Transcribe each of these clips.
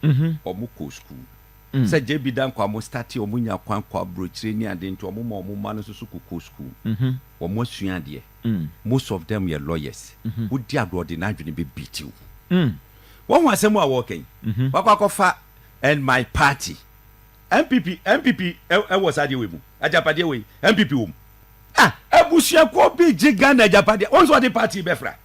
wɔn kɔ sukuu. Sɛ JB da nkwa wɔn startee wɔn nya kwan kɔ abrokyire ne ade nti wɔn ma wɔn mma no nso so kɔ kɔ sukuu. Wɔn asua adeɛ. Most of them yɛ lawyers. Wo di adoɔ de n'adwene bɛ beat wo. Wahu asɛm a wɔɔka yi? Wakɔ akɔ fa and my party. NPP NPP wɔ saa adeɛ wei mu. Agyapadeɛ wei NPP wɔ mu. Ah abusuakuo bi gye Ghana agyapadeɛ wɔn nso wɔde party bɛ fra.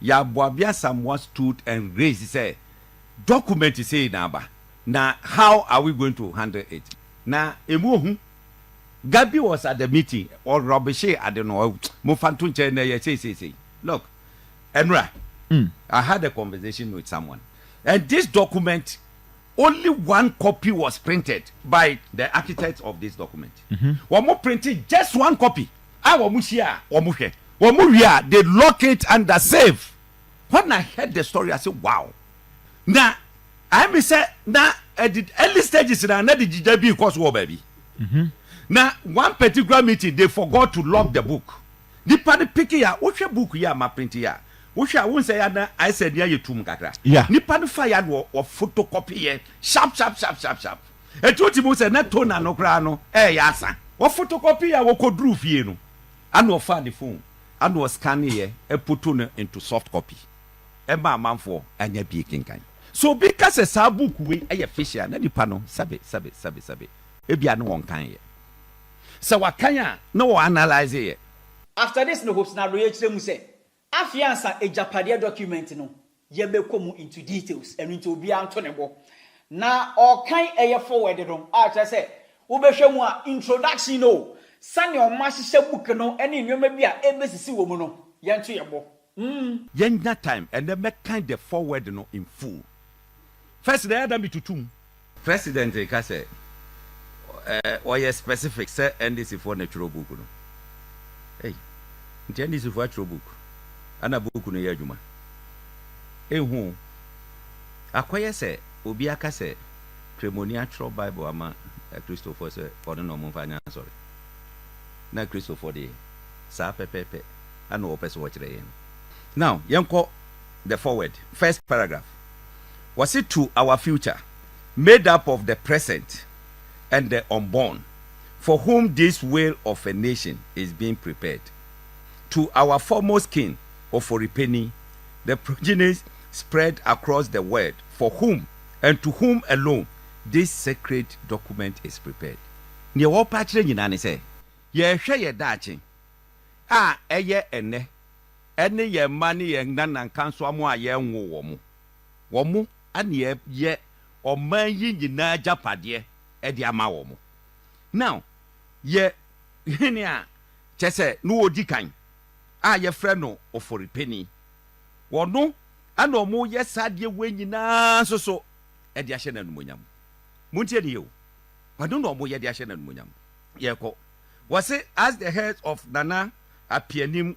ya Boabia Asamoah stood and raised sɛ document sei na aba na how are we going to handle it na ɛmu ohu Gabi was at the meeting ɔ rubbishi ade no mo fa nto nkyɛn na ɛyɛ sei sei sei look Ɛnura I had a conversation with someone and this document Only one copy was printed by the architects of this document. Wɔn printee just one copy a wɔn hyia a wɔn hwɛ. Wɔn wie a they lock it under safe. When I heard the story I say wow! Na ayɛ me sɛ na at the early stages na na de gyigya bi rekɔ so wɔ baabi. Na one particular meeting they forgot to lock the book. Nipa no pick yi a, wohwɛ book yi a ma print yi a, Wohwɛ a wohu sɛ ɛyɛ na ayɛ sɛ ani ayɛ tumm kakra. Nnipa no faeɛ a na wɔfotokɔpeeɛ sharp sharp sharp sharp sharp. Enti wotumi hu sɛ na toner no koraa no reyɛ asa. Wɔfotokɔpeeɛ a wɔkɔduruu fie no, ɛna ɔfaa ne phone ɛna ɔscanneeɛ photo no into soft copy ɛma amanfoɔ anya bi rekenkan. Sɛ obi ka sɛ saa book wei yɛ fiction a, na nnipa no sɛbe sɛbe sɛbe sɛbe. Ebia na wɔnkanneeɛ. Sɛ wɔakan a, na wɔanalyseeɛ. After this no Hope Sinado yɛkyerɛ mu sɛ Afei ansa agyapadeɛ document no yɛ bɛkɔ mu into details ɛno nti obiara nto ne bo na ɔkan ɛyɛ forward no a kyerɛ sɛ wobɛhwɛ mu a introduction no o sɛnea ɔmo ahyehyɛ book no ɛne nnoɔma bi a ɛbɛsisi wɔ mu no yɛnto yɛn bo mm. Yɛnnya time ɛnɛ mɛkan the forward no in full first na ɛyɛ a na metutu mu. President reka sɛ ɔyɛ specific sɛ NDC foɔ na ɛtwerɛ book no ei nti NDC foɔ atwerɛ book ana book no yɛ adwuma ɛnhu o akɔyɛ sɛ obi aka sɛ kremoni atwerɛ bible ama akristofoɔ sɛ ɔne na ɔmomfa nyɛ asɔre na akristofoɔ deɛ saa pɛpɛpɛ ana ɔpɛ sɛ ɔkyerɛ yɛn no now yɛnkɔ the forward first paragraph Wɔse to our future made up of the present and the unborn for whom this whale of a nation is being prepared. To our foremost king Oforipeni, the progenies spread across the world for whom and to whom alone this sacred document is prepared. Deɛ wɔpɛ akyerɛ nyinaa ne sɛ yɛrehwɛ yɛn daakye a ɛyɛ ɛnnɛ. Ɛne yɛn mma ne yɛn nananka nso amoa a yɛnwoo wɔn. Wɔn na yɛyɛ ɔman yi nyinaa agyapadeɛ de ama wɔn. Now, yɛ hene a kyerɛ sɛ na ɔdi kan a yɛfrɛ no Oforipeni. Ɔno na wɔyɛ saa adeɛ wei nyinaa nso so de ahyɛ no animuonyam. Montie no yie o, ɔno na wɔyɛ de ahyɛ no animuonyam. Yɛrekɔ. Wɔse as the head of Nana Apeanim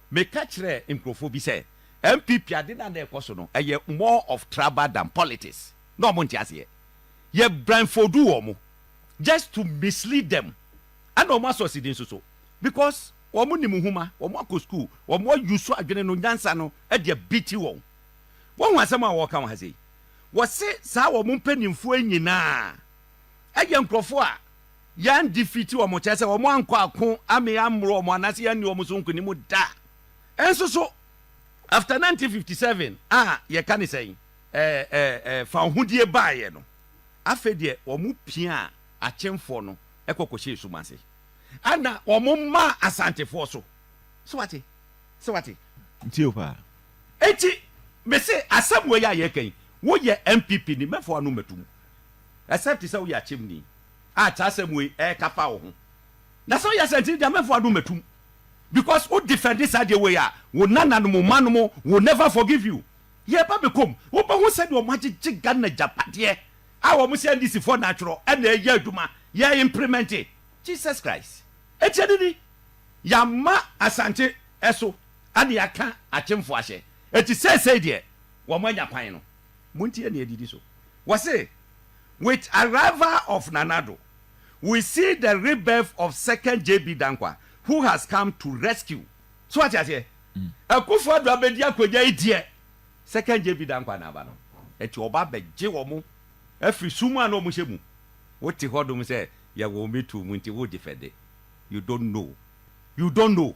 Meka kyerɛɛ nkurɔfoɔ bi sɛ NPP ade no a na ɛrekɔ so no, ɛyɛ more of traba than politics. Na wɔnte aseɛ. Yɛ blindfolduu wɔn just to mislead them. Ɛna wɔn asɔ sidi nso so because wɔnim nwoma, wɔn akɔ school, wɔn a use adwene no, nyansa no de abiti wɔn. Woahu asɛm a wɔreka wɔ ha sei? Wɔse saa wɔn mpanimfoɔ yi nyinaa yɛ nkurɔfoɔ a. Yɛn defeat wɔn kyerɛ sɛ wɔn ankɔ ako ammee ammoro wɔn anaasɛ yɛanni wɔn so nkonim da. Nso so, after 1957 a yɛka ne sɛn? Ɛɛ ɛɛ fawohodie baeɛ no, afei deɛ wɔn piaa Akyemfoɔ no kɔ kɔhyɛɛ sum ase. Ɛna wɔn maa Asantefoɔ so. So wate? So wate? Ntie wo paa. Enti me se asɛm wei a yɛreka yi, woyɛ NPP ni, mɛfa w'ano mato mu. Except sɛ woyɛ Akyemni. a kyerɛ asɛm wei ɛka fa wo ho. Na sɛ woyɛ saa nti Nyame mfa w'adom mɛtum because wo defend saa deɛ wei a wo Nana nom, wo ma nom will never forgive you. Yɛ ba bɛ kom wo bɛ hu sɛdeɛ wɔn agyegye Ghana agyapadeɛ a wɔn sɛ NDC foɔ na atwerɛ ɛna ɛyɛ adwuma yɛ impremɛnte. Jesus Christ. Ɛtiɛ no ni, yɛ ama Asante ɛso ɛna yɛ aka akyemfoɔ ahyɛ ɛti seesei deɛ wɔn anya kwan no. Montie nea edidi so. Wɔse, With arrival of Nana Addo, we see the rebirth of second JB Danquah who has come to rescue. So wate aseɛ? Akufo Addo abɛdi akonnwa yi deɛ, second JB Danquah na aba no. Enti ɔba abɛgye wɔn afiri sum a na wɔhyɛ mu. Wote hɔ nom sɛ yɛwɔ wo metuo mu nti wogye fɛde. You don't know. You don't know.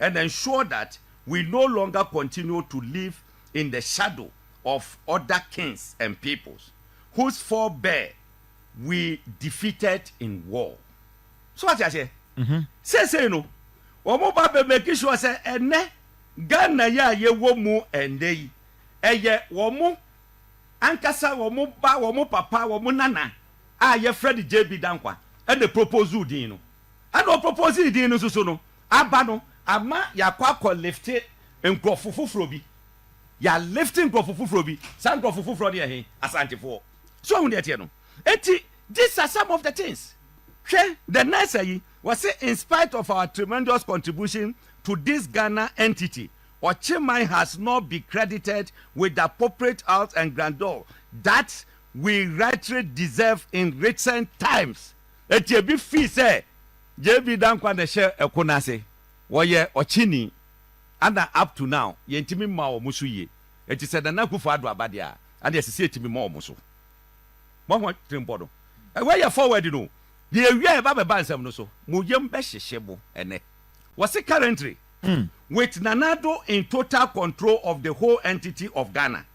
and ensure that we no longer continue to live in the shadow of other kings and peoples whose forebear we defeated in war. So wate aseɛ? Seesei no, wɔn ba bɛ make sure sɛ ɛnɛ Ghana yi a yɛwɔ mu ɛnnɛ yi, ɛyɛ wɔn ankasa wɔn ba, wɔn papa, wɔn nana a yɛfrɛ no JB Dankwa ɛna ɛproposuu din no. Ɛna ɔproposee din no nso so no, Aba no ama yɛakɔ akɔ lifte nkurɔfo foforɔ bi. Yɛalifte nkurɔfo foforɔ bi. Saa nkurɔfo foforɔ no yɛ he? Asantefoɔ. So woahu deɛ ɛteɛ no? Enti, these are some of the things. Hwɛ, the nurse yi, ɔse in spite of our tremendous contribution to this Ghana entity, Ɔkyeman has not be credited with the appropriate house and grandeur that we rightly deserve in recent times. Enti ebi fii sɛ JB Dankwa na ɛhyɛ ɛko no ase. Wɔyɛ ɔkyeni ɛna up to now yɛntumi mma wɔn so yie. Enti sɛ Nana Akuffo Addo aba deɛ a, ɛnneɛ ɛsɛ sɛ yɛtumi ma wɔn so. Moahu atirimpɔ no? Wei yɛ forward no o. Deɛ yɛwie a yɛba abɛba nsɛm no so. Mo yam bɛhyehye mo ɛnnɛ. Wɔse currently, with Nana Addo in total control of the whole entity of Ghana,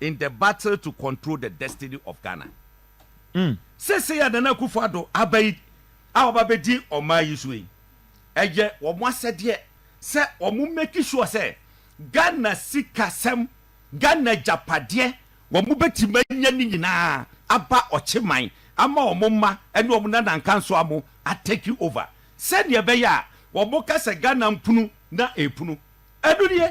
in the battle to control the destiny of Ghana. Seesei a Nana Akufo Addo aba yi a ɔba bɛdi ɔman yi so yi, ɛyɛ wɔn asɛdeɛ sɛ wɔn make sure sɛ Ghana sikasɛm, Ghana agyapadeɛ, wɔn bɛtumi anya ne nyinaa aba ɔkye man ama wɔn mma ne wɔn nana nkansowa mo a take over sɛdeɛ ɛbɛyɛ a wɔn ka sɛ Ghana mpunu na ɛpunu. Ɛno nie.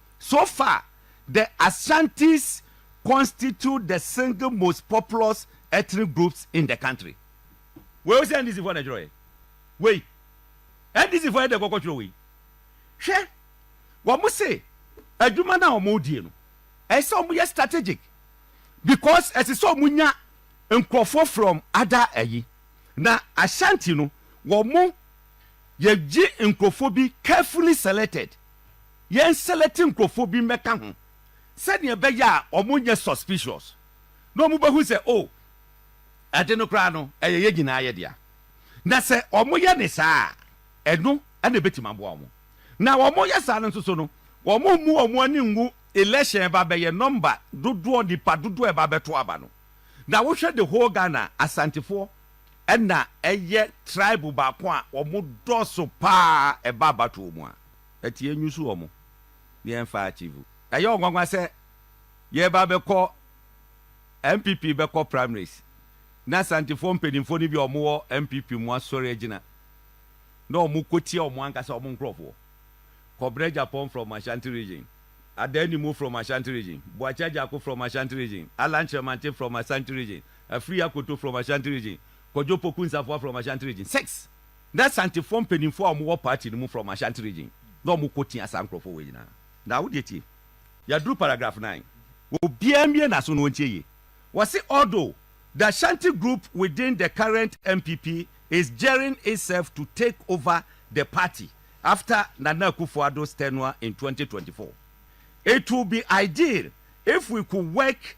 So far, the Ashantis constitute the single most populous ethnic groups in the country. Wei wo sɛ NDC foɔ na ɛtwerɛɛ? Wei NDC foɔ yɛ dɛ kɔkɔ twerɛ wei? Hwɛ, wɔn se adwuma no a wɔn die no, ɛyɛ sɛ wɔn yɛ strategic because ɛsɛ sɛ wɔn nya nkurɔfoɔ from other ayi na Ashanti no wɔn yɛgye nkurɔfoɔ bi carefully selected. yɛn selɛte nkurɔfoɔ bi mmɛka ho sɛdeɛ ɛbɛyɛ a wɔn nyɛ suspicious na wɔn bɛhu sɛ oh ɛde no koraa no ɛyɛ yɛn nyinaa yɛ dea na sɛ wɔn yɛ ne saa a ɛno ɛna ɛbɛtumi aboa wɔn na wɔn yɛ saa no nso so no wɔn mmu wɔn ani ngu election ɛba bɛyɛ number dodoɔ nipa dodoɔ ɛba bɛto aba no na wohwɛ the whole Ghana asantefoɔ na ɛyɛ tribe baako a wɔdɔɔso pa ara ɛba abatoɔ mu a, ɛte yɛnyi so wɔn na yɛmfa achieve. Ɛyɛ ɔnwanwa sɛ yɛreba abɛkɔ NPP bɛkɔ primaries na Asantefoɔ mpanimfoɔ no bi a wɔwɔ NPP mu asɔre agyina na wɔkɔtia wɔn ankasa wɔn nkorɔfoɔ. Kɔbrɛ Agyapong from Ashanti region, Adaa Animu from Ashanti region, Boakye Agyako from Ashanti region, Allan Kyeremanteng from Asante region, Afiri Akoto from Ashanti region, Kojo Opoku Nsafoa from Ashanti region, six na Asantefoɔ mpaninfoɔ a wɔwɔ party no mu from Ashanti region na wɔn kɔ tia saa nkorɔfoɔ wei nyinaa. Na wo deɛ tie, yɛaduru paragraph nine, obiara mmue n'aso na ɔntie yie, wɔse although the Ashanti group within the current NPP is gearing itself to take over the party after Nana Akufo-Addo's tenure in twenty twenty four, it will be ideal if we could work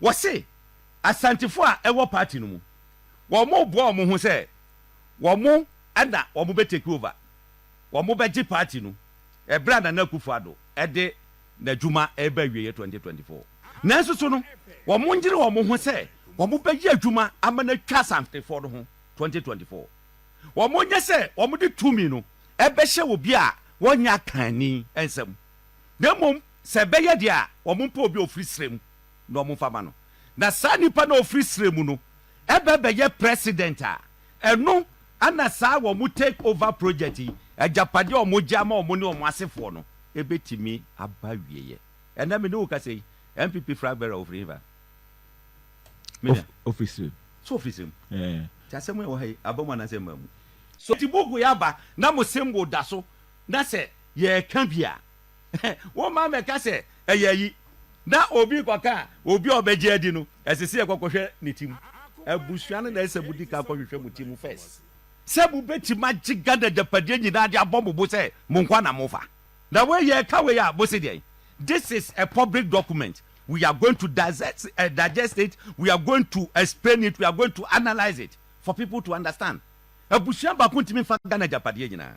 Wɔse Asantefo a ɛwɔ party no mu, wɔreboa wɔn ho sɛ wɔn na wɔbɛ take over, wɔbɛgye party no ɛberɛ a Nana Akufo Addo de n'adwuma reba awieɛ 2024. Nanso so no, wɔnyere wɔn ho sɛ wɔbɛyɛ adwuma ama no atwa Asantefoɔ no ho 2024. Wɔnyɛ sɛ wɔde tumi no bɛhyɛ obi a wɔnyɛ akanni nsam, na mmom sɛ ɛbɛyɛ deɛ a wɔmpɛ obi a ɔfiri serɛ mu na wɔn fa ma no na saa nipa no a ɔfiri serɛ mu no bɛ bɛyɛ president a ɛno na saa wɔn take over project yi agyapadeɛ a wɔn gye ama wɔn ne wɔn asefoɔ no bɛtumi aba awieɛ. Ɛnɛ me ne wo kasa yi NPP flag bearer ɔfiri hefa? Me nua. Ɔfiri serɛ mu. So ɔfiri serɛ mu? Ɛɛ. Ti asɛm yɛ wɔ ha yi aba mu anaasɛ mmaa mu? So ti buku yɛ aba na mo symbol da so na sɛ yɛreka bi a. Womma mmɛka sɛ, Ɛyɛ ayi. Na obi rekɔka a, obi a ɔbɛgye adi no, ɛsɛ sɛ yɛkɔkɔhwɛ ne ti mu. Abusua no na ɛsɛ sɛ mudi kan kɔhwehwɛ mo ti mu first sɛ mubetumi agye Ghana agyapadeɛ nyinaa de abɔ mo bo sɛ mo nkoa na mofa. Na wei yɛ ɛka wei a, mose deɛn? This is a public document, we are going to digest, uh, digest it, we are going to explain it, we are going to analyse it for people to understand. Abusua baako ntumi mfa Ghana agyapadeɛ nyinaa.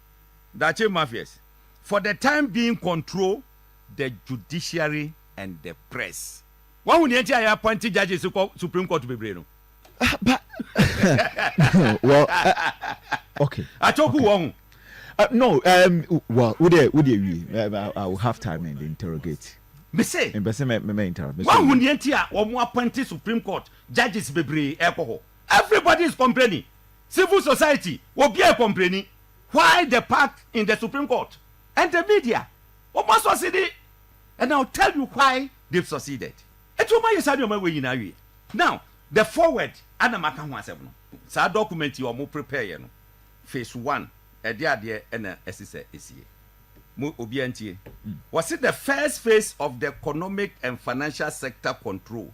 Daakye Mafias for the time being control the judiciary and the press. Wahu nea nti a yɛapɔnte judges kɔ Supreme Court bebree no? Ah, but well, uh, okay. Atoku okay. wɔn. Uh, no, um, well, would they, would they, we, uh, I will have time and interrogate. Me say. Me say me me interrupt. Me say. Wɔn ni eti a wɔn appointed Supreme Court judges bebree ɛkɔ hɔ. Everybody is complaining. Civil society obiaa yɛ kɔmpleni. Why the pact in the supreme court and the media ɔmo asɔsede and I'll tell you why they've succeeded nti ɔmo ayɛ saa nnoɔma wei nyinaa awieɛ now the forward ana maka ho asɛm no saa document yi ɔmo prepare yɛ no phase one ɛdeɛ adeɛ ɛna ɛse sɛ ɛsie mo obiaa ntie wɔse the first phase of the economic and financial sector control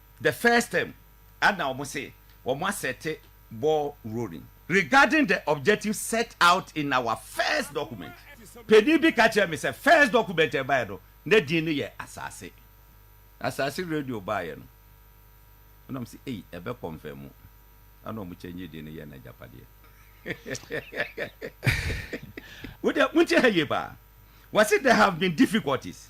The first term a na wɔn se wɔn asɛte ball rolling. Regarding the objective set out in our first document, panin bi ka kyerɛɛ me sɛ first document a ɛbaeɛ no na din no yɛ Asase. Asase radio baeɛ no ɛna wɔn se ei ɛbɛ kɔnfɛmu ɛna wɔn kyɛngye din no yɛ no Agyapadeɛ. Wo deɛ wonte ha yie paa. Wɔse there have been difficulties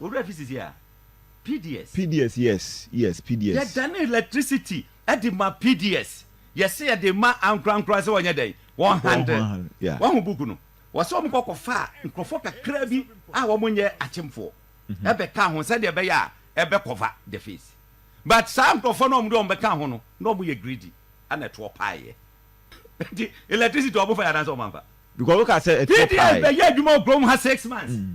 Owura fi sisi a, PDS. PDS yes yes PDS. Yɛ dane electricity de ma PDS yɛ se yɛ de ma ankorankora se wɔnyɛ dɛn wɔn handle wahu book no wɔ se wɔn kɔ kɔ fa nkorɔfoɔ kakra bi a wɔn nyɛ akyemfoɔ ɛbɛ ka ho sɛdeɛ ɛbɛyɛ a ɛbɛ kɔva the face but saa nkorɔfoɔ no wɔn de wɔn bɛ ka ho no na wɔn yɛ greedy ɛna ɛtoɔ paa yɛ nti electricity wɔn fa yɛ anaasɛ wɔn anfa because wɔn ka sɛ ɛtoɔ paa yɛ PDS bɛ yɛ adwuma wɔ kurom ha six months. Mm.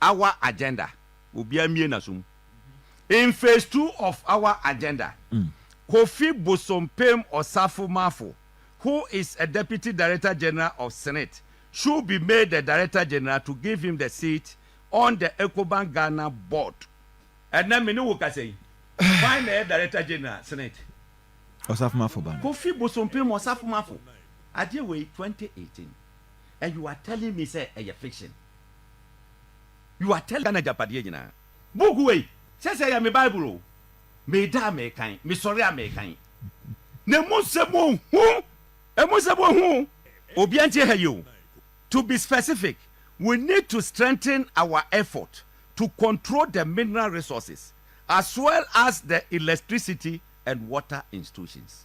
Our Agenda, Obiara mmue n'aso mu, In Phase Two of Our Agenda, Kofi Bosompem Osafo Marfo, who is a Deputy Director General of Senate, should be made the Director General to give him the seat on the Ecobank Ghana Board. Ɛnnɛ me ne wo kasa yi, hwan na ɛyɛ Director General Senate? Osafo Marfo ba no. Kofi Bosompem Osafo Marfo, adeɛ wei 2018 and you are telling me sɛ ɛyɛ fiction? You are telling Ghana agyapadeɛ nyinaa. Book wei, sɛ sɛ ɛyɛ me Bible o, meda a mekan, mesɔre a mekan. Na ɛmu nsɛm wɔ hu, ɛmu nsɛm wɔ hu o. Obiara ntie ha yie o. To be specific, we need to strengthen our effort to control the mineral resources as well as the electricity and water institutions.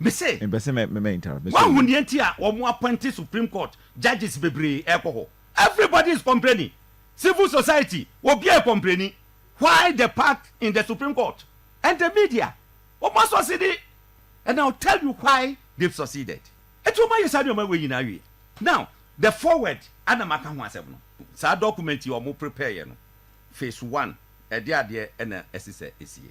Me se, Mepɛ sɛ mɛ mɛ interrupt. Me se, Woahu nea nti a wɔn appointed Supreme Court judges bebree rekɔ hɔ? Everybody is complaining. Civil society, obiara rekɔmpleni. Why the pack in the Supreme Court and the media? Wɔn asɔsede and I will tell you why they've succeeded. Enti wɔn ayɛ saa nneɛma wei nyinaa awie. Now, the forward a na maka ho asɛm no, saa document yi a wɔn prepareɛ no, phase one, ɛdeɛ adeɛ na ɛsesɛ ɛsie.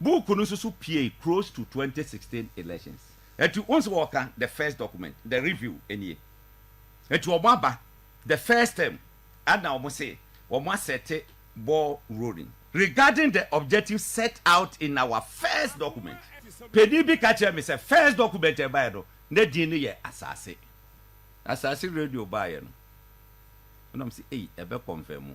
Book no nso so piei close to twenty sixteen elections. Enti wohu sɛ wɔka the first document, the review nie. Enti wɔn aba the first term ɛna wɔn se wɔn asɛte ball rolling. Regarding the objectives set out in our first document, panin bi ka kyerɛɛ me sɛ first document a ɛbaeɛ no na din no yɛ Asase. Asase radio baeɛ no na wɔn se ei ɛbɛ confirmu.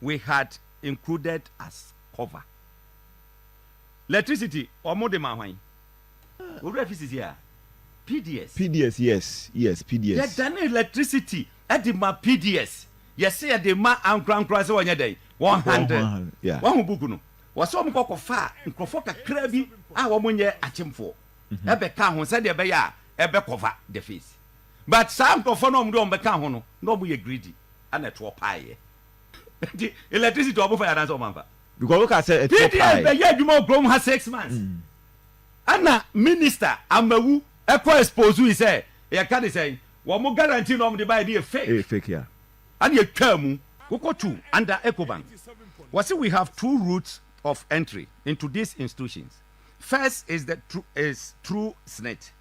we had included as cover electricity ɔmo de ma hwan. Owura fi sisi a PDS. PDS yes yes PDS. Yɛ dane electricity de ma PDS yɛ se yɛ de ma ankorankora se wɔnyɛ dɛn wɔn handle wahu book no wɔ se wɔn kɔ kɔ fa nkorɔfoɔ kakra bi a wɔn nyɛ akyemfoɔ ɛbɛ ka ho sɛdeɛ ɛbɛyɛ a ɛbɛ cover the face. but saa nkurɔfoɔ no a wɔde wɔn bɛka ho no na wɔyɛ greedy ɛna ɛtoɔ paeɛ nti electricity wɔn fa yɛ anaasɛ wɔn anfa. because wo ka sɛ ɛtoɔ paeɛ. pds bɛyɛ adwuma wɔ kurom ha six months ɛna minister amawu ɛkɔ expose yi sɛ yɛka ne sɛn wɔn guarantee na wɔn de ba yɛ de yɛ fake. ɛyɛ fake ya. ɛna yɛtwaa mu. wokɔ tu under ecobank wɔsi we have two routes of entry into these institutions first is the is through snit.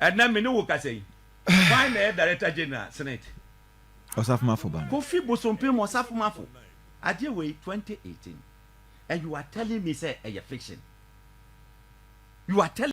Ɛnnɛ me ne wo kasa yi, hwan na ɛyɛ Director General Senate? Osafomafo ba no. Kofi Bosompem Osafomafo, adeɛ wei 2018 and you are telling me sɛ ɛyɛ fiction? You are telling.